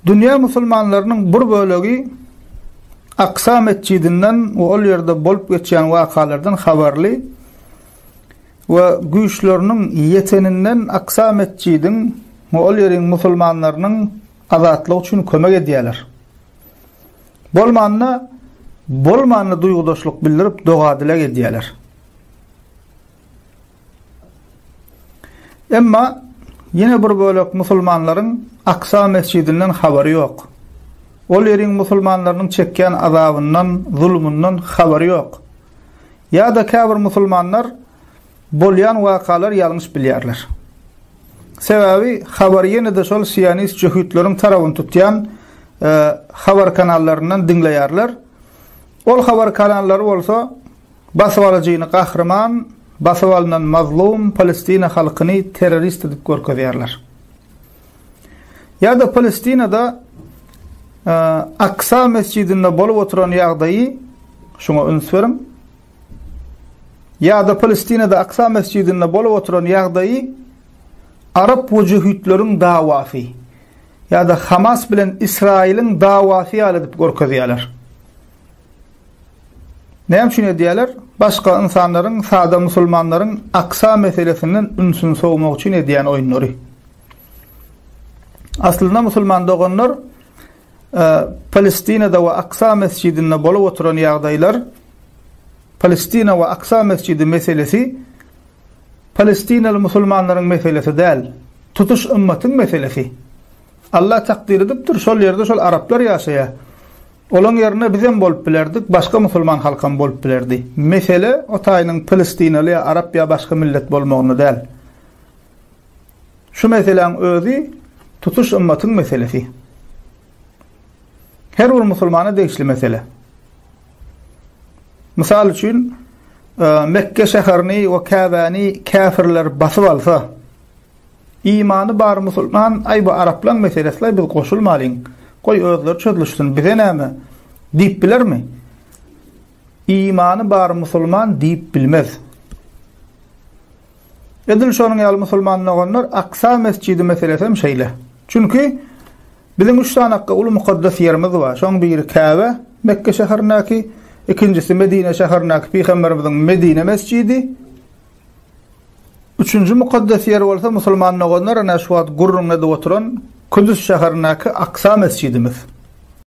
Dünýä musulmanlarynyň bir bölegi Aksa metjidinden we ol ýerde bolup geçýän wakalardan habarly we güýçleriniň ýeteninden Aksa metjidiň we ol ýeriň musulmanlarynyň azatlygy üçin kömek edýärler. Bolmanda, bolmanda duýgudaşlyk bildirip doga-dileg edýärler. Emma ýene bir bölek musulmanlaryň Aksa mesjidinden habary ýok. Ol ýeriň musulmanlarynyň çekýän azabyndan, zulumyndan habary ýok. Ýa-da käbir musulmanlar bolýan wakalary ýalňyş bilýärler. Sebäbi habary ýene-de şol sionist jöhitleriň tarabyny tutýan habar kanallaryndan diňleýärler. Ol habar kanallary bolsa Basybalyjyny gahryman, basyp alnan mazlum Palestina halkyny terrorist edip görkezýärler. Ýa-da Palestinada Aksa mesjidinde bolup oturan ýagdaýy şuňa üns beriň. Ýa-da Palestinada Aksa mesjidinde bolup oturan ýagdaýy Arap wujyhütleriň dawasy ýa-da Hamas bilen Israiliň dawasy ýaly edip görkezýärler. Näme üçin edýärler? Başga ynsanlaryň, sada musulmanlaryň Aksa meselesinden ünsüni sowmak üçin edýän oýunlary. Aslynda musulman doganlar Palestinada we Aksa mesjidinde bolup oturan ýagdaýlar Palestina we Aksa mesjidi meselesi Palestinaly musulmanlaryň meselesi däl, tutuş ymmatyň meselesi. Allah takdir edipdir, şol ýerde şol araplar ýaşaýar. Olaň ýerinde bizem bolup bilerdik, başga musulman halkam bolup bilerdi. Mesele o taýynyň pilistinaly ýa arap ýa başga millet bolmagynda däl. Şu meseläň özi tutuş ymmatyň meselesi. Her bir musulmana degişli mesele. Mysal üçin, e, Mekke şäherini we Käbäni käfirler basyp alsa, Imany bar musulman aý bu araplaň meselesilaý biz goşulmalyň goý özleri çözlüşsin bize näme diýip bilermi? Imany bar musulman diýip bilmez. Edil şonuň ýaly musulman doganlar Aksa mesjidi meselesi hem şeýle. Çünki biziň üç sany akga uly mukaddes ýerimiz bar. Şoň biri Käbe, Mekge şäherindäki, ikinjisi Medine şäherindäki Pygamberimiziň Medine mesjidi, Üçünji mukaddes ýer bolsa musulman doganlar ine şu wagt gürrüňledip oturan Küdüs şäherindäki Aksa mesjidimiz.